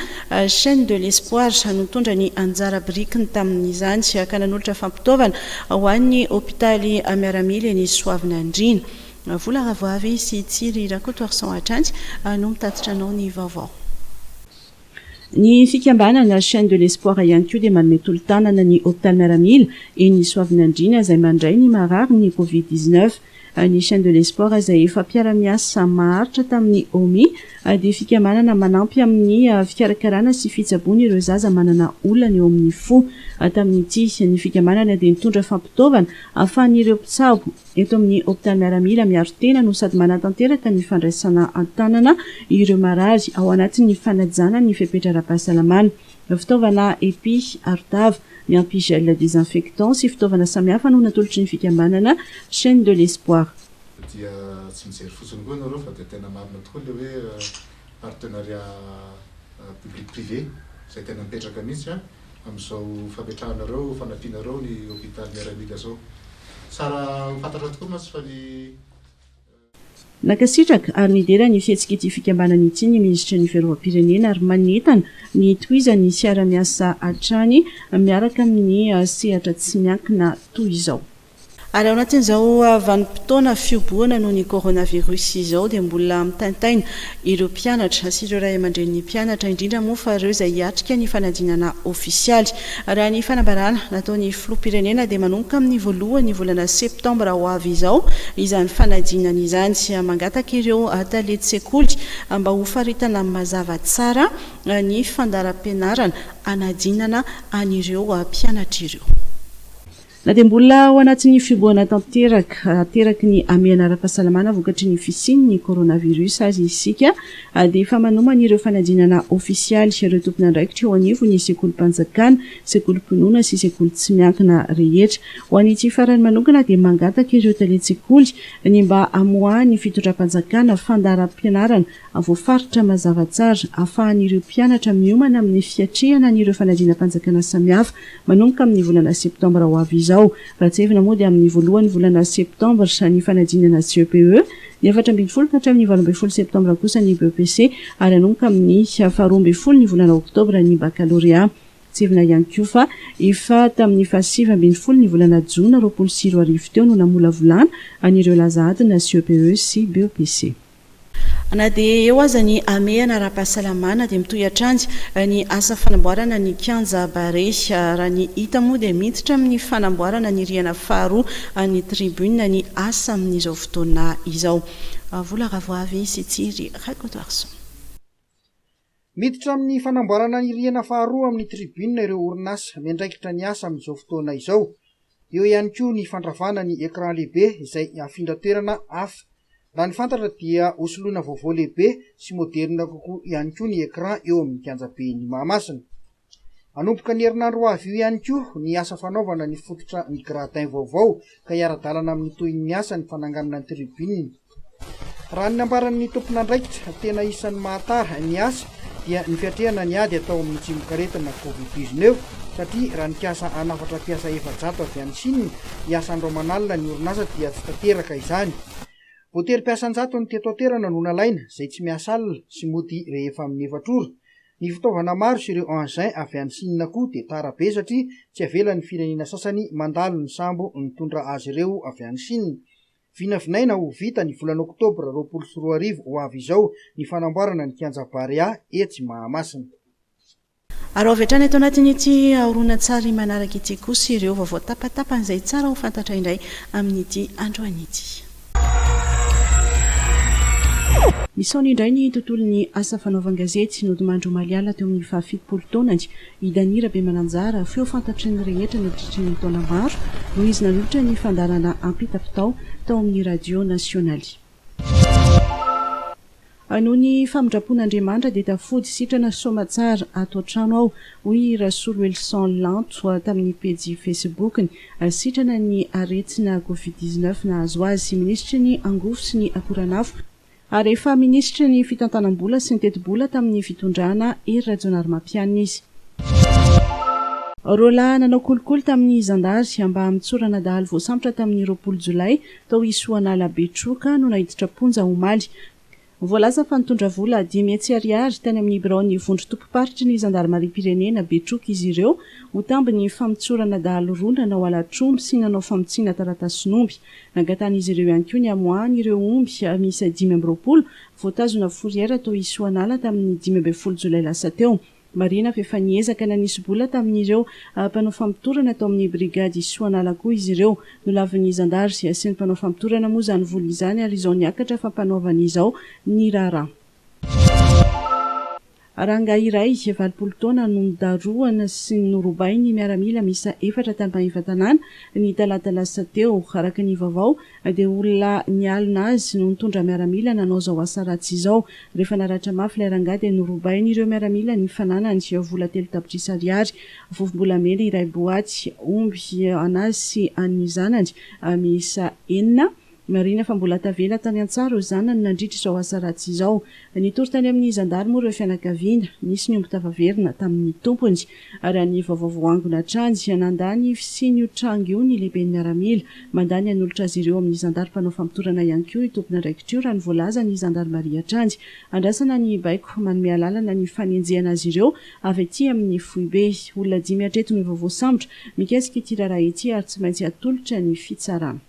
Chaine de l'Espoir no nitondra ny anjara birikiny tamin'izany ka nanolotra fampitaovana ho an'ny hopitaly miaramila eny Soavinandriana. Vola Ravoavy sy Tsiry Rakotoarison hatrany no mitatitra anao ny vaovao. Ny fikambanana Chaine de l'Espoir ihany koa dia manome tolo-tanana ny Hôpital Miaramila eny Soavinandriana izay mandray ny marary ny Covid dix neuf. Ny Chaine de l'Espoir izay efa mpiara-miasa maharitra tamin'ny Omi dia fikambanana manampy amin'ny fikarakarana sy fitsaboana ireo zaza manana olana eo amin'ny fo. Tamin'ity, ny fikambanana dia nitondra fampitaovana ahafahan'ireo mpitsabo Eto amin'ny hopitaly miaramila miaro tena no sady manatanteraka ny fandraisana an-tanana ireo marary ao anatin'ny fanajana ny fepetra ara-pahasalamana. Fitaovana epi, arotava, miampy gel désinfectant sy fitaovana samihafa no natolotry ny fikambanana Chaine de l'Espoir. Dia tsy mijery fotsiny koa ianareo fa dia tena marina tokoa ilay hoe. partenariat public privé izay tena mipetraka mihitsy amin'izao fametrahanareo, fanampinareo ny hôpital miaramila zao. Tsara ho fantatra tokoa mantsy fa ny. Nankasitraka ary nidera ny fihetsika ity fikambanana ity ny Minisitry ny Fiarovam-pirenena ary manentana ny hitohizan'ny fiara-miasa hatrany miaraka amin'ny sehatra tsy miankina toy izao. Ary ao anatin'izao vanim-potoana fiobohana noho ny coronavirus izao dia mbola mitaintaina ireo mpianatra sy ireo ray aman-drenin'ny mpianatra, indrindra moa fa ireo izay hiatrika ny fanadinana ofisialy. Raha ny fanambarana nataon'ny filoham-pirenena dia manomboka amin'ny voalohan'ny volana septambra ho avy izao izany fanadinana izany. Mangataka ireo tale tsekoly mba ho faritana mazava tsara ny fandaharam-pianarana hanadinana an'ireo mpianatra ireo. Na dia mbola ao anatin'ny fihobohana tanteraka ateraky ny hamehana ara-pahasalamana vokatry ny fisian'ny coronavirus aza isika dia efa manomana ireo fanadinana ofisialy ireo tompon'andraikitra eo anivon'ny sekolim-panjakana, sekolim-pinoana sy sekoly tsy miankina rehetra. Ho an'ity farany manokana dia mangataka ireo talen-tsekoly ny mba hamoahan'ny fitondram-panjakana fandaharam-pianarana voafaritra mazava tsara, ahafahan'ireo mpianatra miomana amin'ny fiatrehana an'ireo fanadinam-panjakana samihafa, manomboka amin'ny volana septambra ho avy izao. Raha tsiahivina moa dia amin'ny voalohan'ny volana septambra ny fanadinana CEPE, ny efatra ambin'ny folo ka hatramin'ny valo ambin'ny folo septambra kosa ny BEPC, ary hanomboka amin'ny faharoa ambin'ny folo ny volana oktobra ny bakalorea. Tsiahivina ihany koa fa efa tamin'ny fahasivy ambin'ny folo ny volana jona roapolo sy roa arivo teo no namolavolana an'ireo laza adina CEPE sy BEPC. Na dia eo aza ny hamehana ara-pahasalamana dia mitohy hatrany ny asa fanamboarana ny kianja Barea. Raha ny hita moa dia miditra amin'ny fanamboarana ny rihana faharoa an'ny tribune ny asa amin'izao fotoana izao. Vola Ravoavy sy Tsiry Rakotoarison. Miditra amin'ny fanamboarana ny rihana faharoa amin'ny tribune ireo orinasa miandraikitra ny asa amin'izao fotoana izao. Eo ihany koa ny fandravana ny écran lehibe izay hafindra toerana hafa. Raha ny fantatra dia hosoloina vaovao lehibe sy moderne kokoa ihany koa ny écran eo amin'ny kianjaben'i Mahamasina. Hanomboka ny herinandro ho avy io ihany koa ny asa fanaovana ny fototra ny gradins vaovao ka hiara-dalana amin'ny tohin'ny asa ny fananganana ny tribune. Raha ny nambaran'ny tompon'andraikitra, tena isan'ny mahatara ny asa dia ny fiatrehana ny ady atao amin'ny tsimokaretina covid dix neuf satria raha nikasa hanafatra mpiasa efajato avy any Chine hiasa andro aman'alina ny orinasa dia tsy tanteraka izany. Voatery mpiasa an-jatony teto an-toerana no nalaina, izay tsy miasa alina sy mody rehefa amin'ny efatra ora. Ny fitaovana maro sy ireo engins avy any Sina koa dia tara be satria tsy avelan'ny firenena sasany mandalo ny sambo nitondra azy ireo avy any Sina. Vinavinaina ho vita ny volana oktobra roapolo sy roa arivo ho avy izao ny fanamboarana ny kianja Barea etsy Mahamasina. Araho avy hatrany ato anatin'ity horonan-tsary manaraka ity kosa ireo vaovao tapatapan'izay tsara ho fantatra indray amin'ity androany ity. Nisaona indray ny tontolon'ny asa fanaovan-gazety nodimandry omaly alina teo amin'ny fahafitopolo taonany i Dany Rabemananjara, feo fantatry ny rehetra nandritry ny taona maro noho izy nanolotra ny fandaharana Ampitapitao tao amin'ny Radio Nasionaly. A Noho ny famindram-pon'Andriamanitra dia tafody sitrana soamatsara ato an-trano aho, hoy i Rasoloelison Lanto tamin'ny pejy Facebook-ny. Sitrana ny aretina Covid dix neuf nahazo azy. Minisitry ny Angovo sy ny Akoranafo, ary efa minisitry ny Fitantanam-bola sy ny Tetibola tamin'ny fitondrana Hery Rajaonarimampianina izy. Roalahy nanao kolikoly tamin'ny zandary mba hamitsorana dahalo voasambotra tamin'ny roapolo jolay Tao Isoanala Betroka no naiditra am-ponja omaly. Voalaza fa nitondra vola dimy hetsy ariary tany amin'ny biraon'ny vondron-tobim-paritry ny zandarimariam-pirenena Betroka izy ireo ho tambin'ny famotsorana dahalo roa nanao halatr'omby sy nanao famotsiana taratasin'omby. Nangatan'izy ireo ihany koa ny hamoahan'ireo omby miisa dimy amby roapolo voatazona fourrière tao Isoanala tamin'ny dimy ambin'ny folo jolay lasa teo. Marihina fa efa niezaka nanisy bola tamin'ireo mpanao famotorana tao amin'ny brigady Soanala koa izy ireo. Nolavin'ny zandary sy ny mpanao famotorana moa izany vola izany ary izao niakatra fampanoavana izao ny raharaha. Rangahy iray, valopolo taona, no nodarohana sy norobain'ny miaramila miisa efatra tany Maevatanàna, ny talata lasa teo, araka ny vaovao. Dia olona nialona azy no nitondra miaramila nanao izao asa ratsy izao. Rehefa naratra mafy ilay rangahy dia norobain'ireo miaramila ny fananany, vola telo tapitrisa ariary, vovombolamena iray boaty, omby an'azy sy an'ny zanany miisa enina. Marihina fa mbola tavela tany an-tsaha ireo zanany nandritra izao asa ratsy izao. Nitory tany amin'ny zandary moa ireo fianakaviana. Nisy ny omby tafaverina tamin'ny tompony. Raha ny vaovao voangona hatrany, nandà ny fisian'io tranga io ny lehiben'ny miaramila. Mandà ny hanolotra azy ireo amin'ny zandary mpanao famotorana ihany koa io tompon'andraikitra io, raha ny voalazan'ny zandarimaria hatrany. Andrasana ny baiko manome alalana ny fanenjehana azy ireo avy aty amin'ny foibe. Olona dimy hatreto ny vaovao sambotra mikasika ity raharaha ity ary tsy maintsy hatolotra ny fitsarana.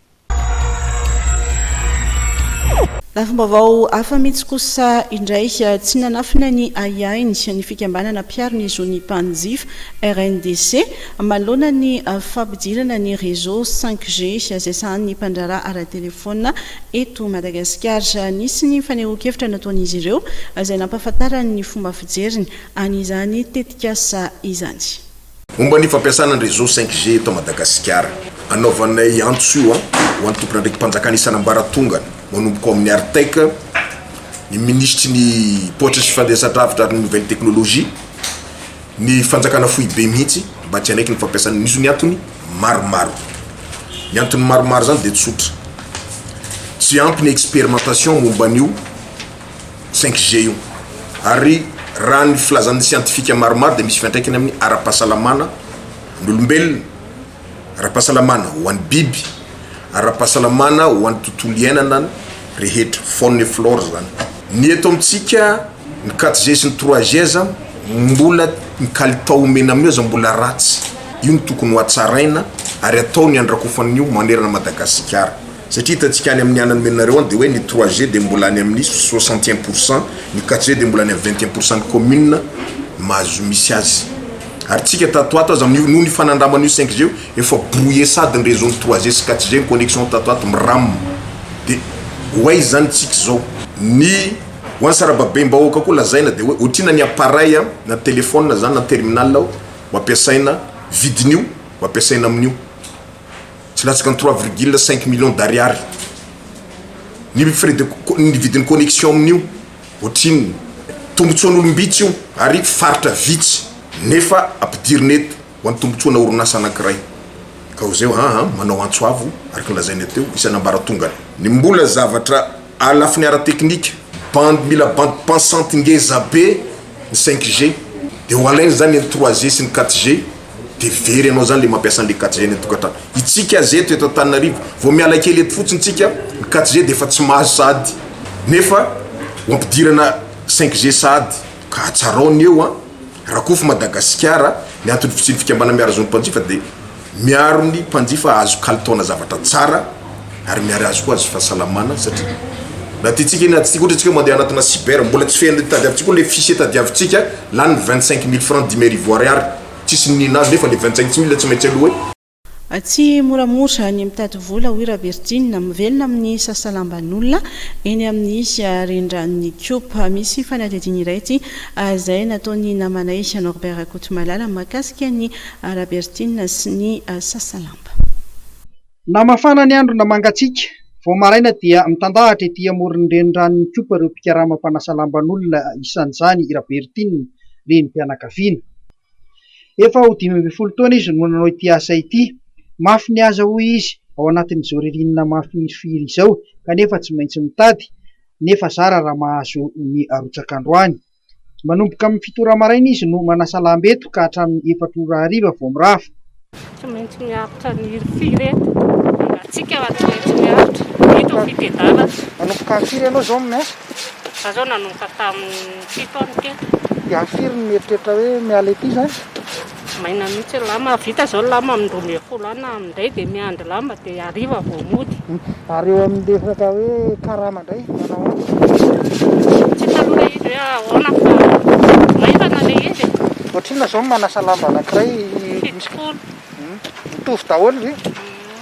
Lafim-baovao hafa mihitsy kosa indray, tsy nanafina ny ahiahiny ny fikambanana mpiaro ny zon'ny mpanjifa, RNDC, manoloana ny fampidirana ny réseau cinq G izay sahanin'ny mpandraharaha ara-telefaonina eto Madagasikara. Nisy ny fanehoan-kevitra nataon'izy ireo izay nampahafantarany ny fomba fijeriny an'izany tetikasa izany. Momba ny fampiasana ny réseau 5G eto Madagasikara. Anaovanay antso io ho an'ny tompon'andraiki-panjakana isan'ambaratongany, manomboka ao amin'ny Artec, ny minisitry ny Paoitra sy Fandraisan-dravitra ary ny Nouvelle Technologie, ny fanjakana foibe mihitsy mba tsy hanaiky ny fampiasana io ny antony maromaro. Ny antony maromaro izany dia tsotra, tsy ampy ny expérimentation momba an'io. cinq G io ary raha ny filazan'ny siantifika maromaro dia misy fiantraikany amin'ny ara-pahasalamana ny olombelona, ara-pahasalamana ho an'ny biby, ara-pahasalamana ho an'ny tontolo iainana rehetra, faune et flore izany. Ny eto amintsika ny quatre G sy ny trois G aza mbola ny kalitao omena amin'io aza mbola ratsy, io no tokony ho hatsaraina ary atao ny handrakofan'io manerana Madagasikara. Satria hitantsika any amin'ny an'ny nomenareo any dia hoe ny trois G dia mbola any amin'ny soixante et un pour cent, ny quatre G dia mbola any amin'ny vingt et un pour cent ny commune mahazo misy azy. Ary tsika tato ato aza amin'io noho ny fanandraman'io cinq G io efa brouillé sady ny réseau-n'ny trois G sy quatre G ny connexion tato ato miram. Dia ho aiza izany tsika izao? Ny ho an'ny sarababem-bahoaka koa lazaina dia hoe otrina ny appareil na téléphone izany na terminal ho ampiasaina vidin'io ho ampiasaina amin'io. tsy latsaka ny trois virgule cinq millions d'ariary ny frais de ny vidin'ny connexion amin'io ohatrinona tombotsoan'olom-bitsy io ary faritra vitsy nefa ampidirina eto ho an'ny tombotsoana orinasa anankiray ka ho zay hoe aa manao antso avo araka ny lazainay teo isan'ambaratongany ny mbola zavatra a lafiny ara-teknika bandy mila bandy pensante ngezabe ny cinq G de ho alainy zany ny trois G sy ny quatre G de very anao zany le mampiasa anle quatre G any antokatrano, itsika aza eto eto Antananarivo vao miala kely eto fotsiny tsika ny quatre G de efa tsy mahazo sahady nefa ho ampidirana cinq G sahady ka atsarao ny eo an! Rakofy Madagasikara ny antony fisian'ny fikambana miara zon'ny mpanjifa de. Miaro ny mpanjifa azo kalitaona zavatra tsara ary miary azy koa azo fahasalamana satria na tiantsika na tsy tiantsika ohatra antsika mandeha anatina cyber mbola tsy feno tadiavintsika koa le fichier tadiavintsika lany vingt cinq mille franc dimy arivo ariary tsisy niniana azy nefa le vingt cinq mille tsy maintsy aloha hoe Tsy moramora ny mitady vola hoy Raverjina, mivelona amin'ny sasalamban'olona eny amin'ny Rendranon'i Coop. Misy fanadihadiana iray ity izay nataon'ny namanay Norbert Rakotomalala mahakasika ny Arabertina sy ny Sasalamba. Na mafana ny andro na mangatsiaka, vao maraina dia mitandahatra ety amoron'ny renirano mikopa ireo mpikarama mpanasa lamban'olona, isan'izany i Rabertina, renim-pianakaviana. Efa ho dimy ambin'ny folo taona izy no nanao ity asa ity. Mafy ny aza hoy izy ao anatin'izao ririnina mafirifiry izao kanefa tsy maintsy mitady, nefa zara raha mahazo ny arotsak'androany. Manomboka amin'ny fito ora maraina izy no manasa lamba eto ka hatramin'ny efatra ora hariva vao mirava. Tsy maintsy miaritra ny firy eto. Antsika tsy maintsy miaritra. Ito ny fitedana. Manomboka amin'ny firy ianao izao miasa? Za zao nanomboka tamin'ny fito aho nitety. Dia firy no mieritreritra hoe miala ety izany? Maina mihitsy ny lamba, vita zao ny lamba amin'ny roa ambin'ny folo any na amin'indray dia miandry lamba dia hariva vao mody. Ary eo amin'ny resaka hoe karama indray manao ahoana? Tsy hitako ilay izy hoe ahoana fa maivana ilay izy e. Ohatrinona izao ny manasa lamba anankiray? Fitopolo. Mitovy daholo ve?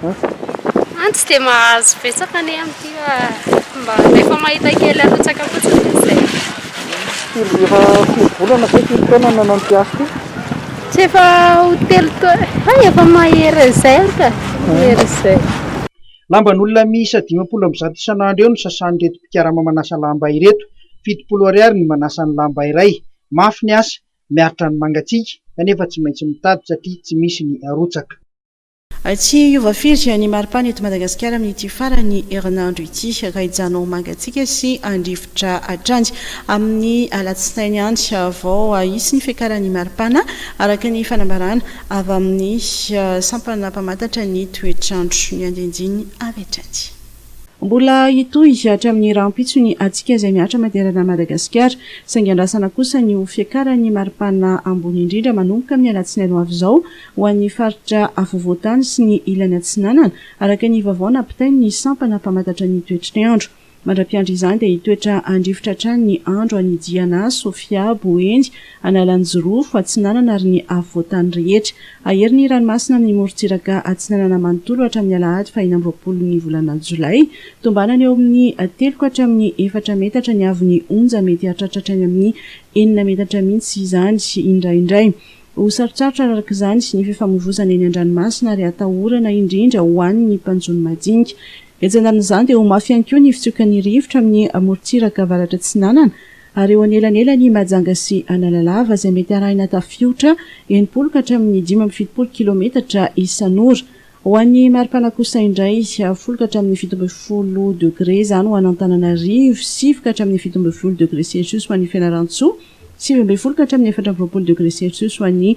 An tsy dia mahazo betsaka anie amin'ity fa mba rehefa mahita kely arotsaka fotsiny dia izay. Firy efa firy volana ve firy taona no nanao an'ity asa ity? Tsy efa ho telo taona, hay efa mahery an'izay aho ka, mahery an'izay. Lamban'olona miisa dimampolo amby zato isan'andro eo no sasan'ireto mpikarama manasa lamba ireto. Fitopolo ariary ny manasa ny lamba iray. Mafy ny asa, miaritra ny mangatsiaka, kanefa tsy maintsy mitady satria tsy misy ny arotsaka. Tsy hiova firy ny maripana eto Madagasikara amin'ity faran'ny herinandro ity, raha hijanona ho mangatsiaka sy handrivotra hatrany amin'ny alatsinainy any vao hisy ny fiakaran'ny maripana, araka ny fanambarana avy amin'ny sampana mpamantatra ny toetr'andro. Ny andinindiny avy hatrany. Mbola hitohy hatramin'ny rahampitso ny hatsiaka izay mihatra manerana an'i Madagasikara, saingy andrasana kosa ny ho fiakaran'ny maripana ambony indrindra manomboka amin'ny alatsinainy ho avy izao, ho an'ny faritra afovoan-tany sy ny ilany atsinanana, araka ny vaovao nampitain'ny sampana mpamantatra ny toetr'andro. Mandra-piandry izany dia hitoetra handrifotra hatrany ny andro any Diana, Sofia, Boeny, Analanjirofo, Atsinanana ary ny afovoan-tany rehetra. Hahery ny ranomasina amin'ny morontsiraka atsinanana manontolo hatramin'ny alahady fahena amby roapolon'ny volana jolay. Tombanana eo amin'ny telo ka hatramin'ny efatra metatra ny haavon'ny onja, mety hahatratra hatrany amin'ny enina metatra mihitsy izany indraindray. Ho sarotsarotra araraka izany ny fifamoivoizana eny an-dranomasina ary hatahorana indrindra ho an' ny mpanjono madinika. Etsy andanin' izany dia ho mafy ihany koa ny fitsiokan' ny rivotra amin' ny morontsiraka avaratra atsinanana ary eo anelanelan' i Mahajanga sy Analalava izay mety arahina tafiotra enimpolo ka hatramin' ny dimy amby fitopolo kilaometatra isan' ora. Ho an' ny maripana kosa indray, folo ka hatramin' ny fito ambin'ny folo degre izany ho an' Antananarivo, sivy ka hatramin' ny fito ambin'ny folo degre selsiosy ho an' i Fianarantsoa, Sivy ambin'ny folo ka hatramin'ny efatra amby roapolo degre Celsius ho an'i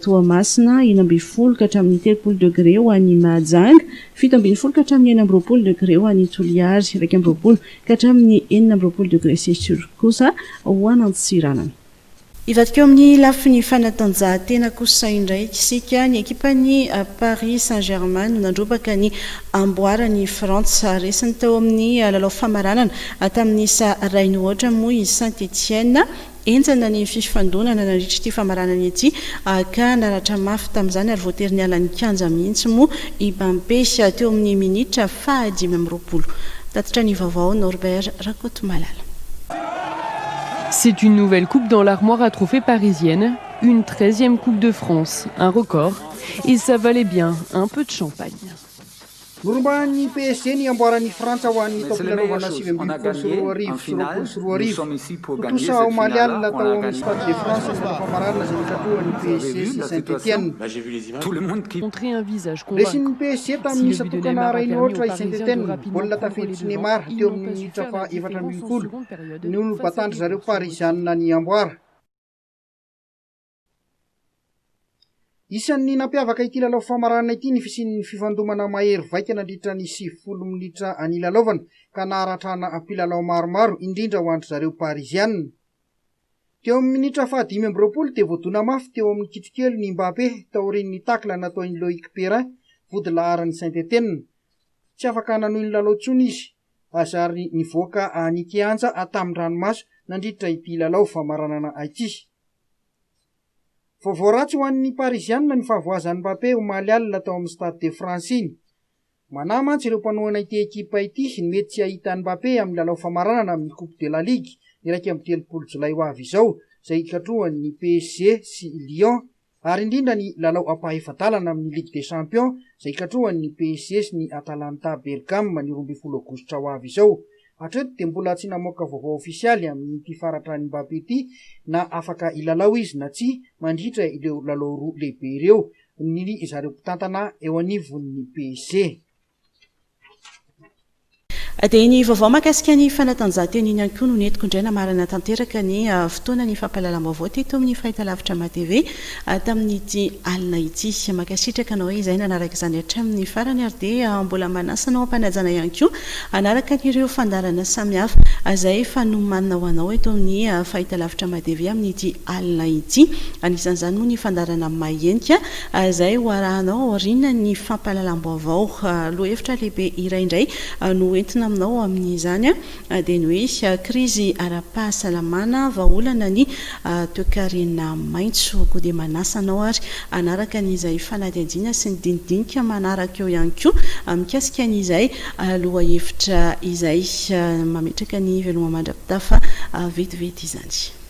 Toamasina, enina ambin'ny folo ka hatramin'ny telopolo degre ho an'i Mahajanga, fito ambin'ny folo ka hatramin'ny enina amby roapolo degre ho an'i Toliary, iraika amby roapolo ka hatramin'ny enina amby roapolo degre Celsius kosa ho an'Antsiranana. Hivadika eo amin'ny lafiny fanatanjahantena kosa indray isika. Ny ekipan'ny Paris Saint-Germain no nandrombaka ny amboaran' i Frantsa. Resiny tao amin' ny lalao famaranana tamin' ny isa iray nohoatra moa i Saint Etienne. Henjana ny fifandonana nandritra ity famaranana ity ka naratra mafy tamin' izany ary voatery niala ny kianja mihitsy moa i Bampé teo amin' ny minitra fahadimy amby roapolo. Tatitra ny vaovao Norbert Rakotomalala. C'est une nouvelle coupe dans l'armoire à trophées parisienne, une treizième coupe de France, un record, et ça valait bien un peu de champagne. Norombahan'ny PSG ny amboaran'i Frantsa ho an'ny taom-pilalaovana sivy ambin'ny folo sy roa arivo sy roapolo sy roa arivo. Tontosa omaly alina tao amin'ny Stade de France ny fotoam-pamaranana izay nikatrohan'ny PSG sy Saint-Etienne. Resin'ny PSG tamin'ny satokana Raynotra i Saint-Etienne, baolina tafiditry Neymar teo amin'ny minitra faha efatra ambin'ny folo, no nobatàn-dry zareo Parizianina ny amboara. Isan'ny nampiavaka ity lalao famaranana ity ny fisian'ny fifandomana mahery vaika nandritra ny sivifolo minitra nilalaovana ka naharatrana mpilalao maromaro, indrindra ho an-dry zareo Pariziana. Teo amin'ny minitra fahadimy amby roapolo dia voadona mafy teo amin'ny kitrokely ny Mbappé taorian'ny tacle nataon'i Loïc Perrin, vodilaharan'i Saint-Etienne. Tsy afaka nanohy ny lalao intsony izy azy ary nivoaka nikianja tamin-dranomaso nandritra ity lalao famaranana ity. Vaovao ratsy ho an'ny Parisianina ny fahavoazan'i Mbappé omaly alina tao amin'ny Stade de France iny. Manahy mantsy ireo mpanohana ity ekipa ity ny mety tsy hahita an'i Mbappé amin'ny lalao famaranana amin'ny Coupe de la Ligue iraika amby telopolo jolay ho avy izao izay hikatrohan'ny PSG sy Lyon ary indrindra ny lalao ampahefa-dalana amin'ny Ligue des Champions izay hikatrohan'ny PSG sy ny Atalanta Bergame ny roa ambin'ny folo aogositra ho avy izao. Hatreto dia mbola tsy namoaka vaovao ofisialy amin'ity faratra an'i Mbappé ity na afaka hilalao izy na tsia mandritra ireo lalao roa lehibe ireo ny ry zareo mpitantana eo anivon'ny PSG. Dia ny vaovao mahakasika ny fanatanjahantena iny ihany koa no nentiko indray namarana tanteraka ny fotoana ny fampahalalam-baovao teto amin'ny Fahitalavitra Matv. tamin'ity alina ity. Mankasitraka anao izay nanaraka izany hatramin'ny farany ary dia mbola manasa anao hampanajana ihany koa hanaraka an'ireo fandaharana samihafa izay efa nomanina ho anao eto amin'ny Fahitalavitra Madv amin'ity alina ity. Anisan'izany moa ny fandaharana Mahenika izay ho arahanao aorianan'ny fampahalalam-baovao. Lohahevitra lehibe iray indray no entina aminao amin'izany. Adenoe, krizy ara-pahasalamana, vahaolana ny toekarena maitso. Koa dia manasa anao ary hanaraka ny izay fanadihadiana sy ny dinidinika manaraka eo ihany koa mikasika ny izay lohahevitra izay. Mametraka ny veloma mandra-pitafa vetivety izany.